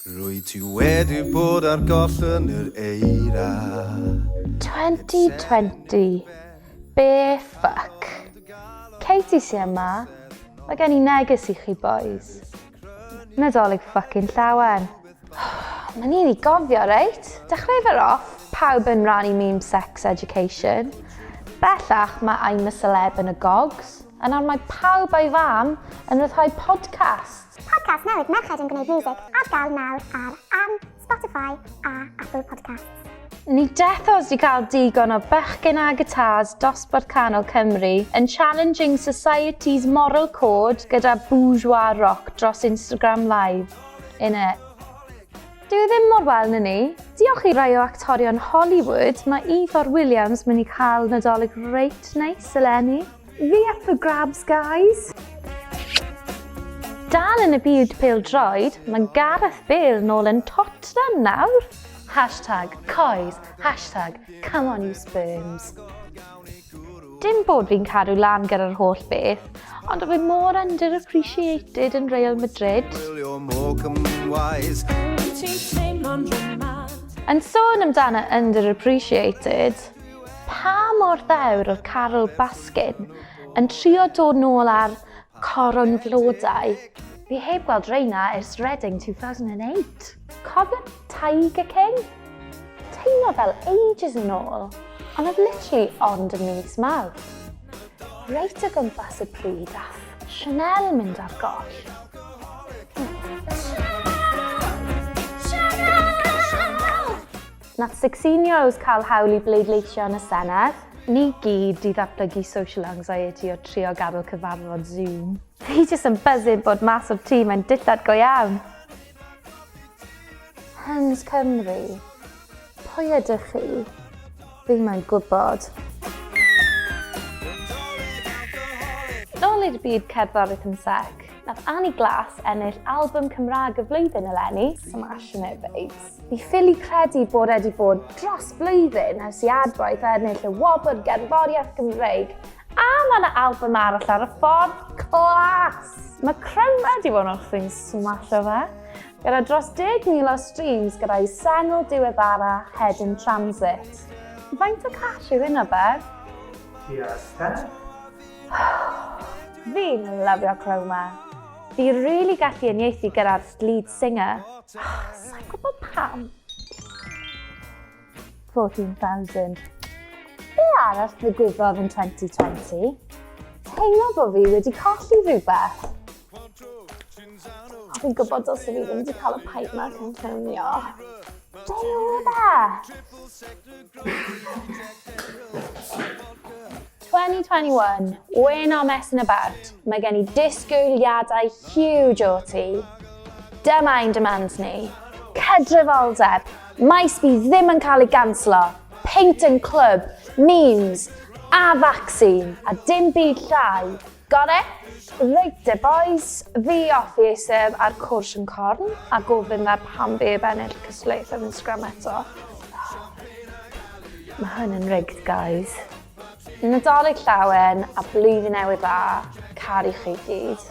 Rwyt ti wedi bod ar goll yn yr eira. 2020. Be fuck. Katie sy yma. Mae gen i neges i chi bois. Nadolig fucking llawen. Mae'n un i gofio reit? Dechreu fe off, pawb yn rannu memes sex education. Bellach mae I'm a celeb yn y gogs, a nawr mae pawb a'i fam yn ryddhau podcasts. Podcast newydd Merched yn Gwneud Music ar gael nawr ar am Spotify a Apple Podcasts. Ni dethos di cael digon o bechgyn a gitars dosbarth canol Cymru yn challenging society's moral code gyda bourgeois rock dros Instagram Live. In it. Dwi ddim mor wel na ni. Diolch i rai o actorion Hollywood, mae Ifor Williams mynd i cael nadolig reit neis eleni. Fi up for grabs guys! Dal yn y byd pêl droed, mae Gareth Bale nôl yn Tottenham nawr! Hashtag coes, hashtag come on you sperms. Dim bod fi'n cadw lan gyda'r holl beth, ond oedd e mor underappreciated yn Real Madrid. Yn sôn amdano underappreciated, Pa mor ddewr oedd Carl Baskin yn trio dod nôl ar coron flodau? Fi heb gweld reina ers Reading 2008. Cofio Tiger King? Teimlo fel ages yn ôl, ond oedd literally ond yn mis Mawrth. Reit o gwmpas y pryd ath Chanel mynd ar goll. Chanel! Chanel! Nath Sixteen Years cael hawl i bleidleisio yn y Senedd? Ni gyd 'di ddatblygu social anxiety o trio gadl cyfarfod Zoom. Fi jyst yn buzzin bod mas o'r tŷ mae'n dillad go iawn! Hens Cymru. Pwy ydych chi? Fi moyn gwybod. Nôl i'r byd cerddoriaeth yn sec. Nath Annie Glass ennill album Cymraeg y flwyddyn eleni. Smashing it babes. Fi ffili credu bod e wedi bod dros blwyddyn ers i Adwaith ennill y wobr gerddoriaeth Gymreig a mae yna album arall ar y ffordd clas! Mae Cryma wedi bod yn ochrau'n smasho fe, gyda dros 10,000 o streams gyda'i sengl diweddara Head in Transit. Faint o cash yw hynna, Bev? Tua Steph? Fi'n lyfio'r clo 'ma. Fi rili gallu uniaethu gyda'r lead singer. Sai'n gwybod pam. 14,000. Be arall ddigwyddodd yn 2020? Teimlo bo fi wedi colli rhywbeth. A fi'n gwybod os fi ddim wedi cael y pipe ma cyn ffilmio. Dwi rwydda! 2021, we're not messing about. Mae gen i disgwyliadau huge o ti. Dyma ein demands ni. Cydraddoldeb, maes bydd ddim yn cael ei ganslo, peint yn clwb, memes, a vaccine, a dim byd llai, Got it? Reit de bois, fi off i eistedd ar cwrs yn corn a gofyn fe pam fi heb ennill y cystadleuaeth ar Instagram eto. Mae hwn yn rigged guys. Nadolig llawen a blwyddyn newydd dda, caru chi gyd.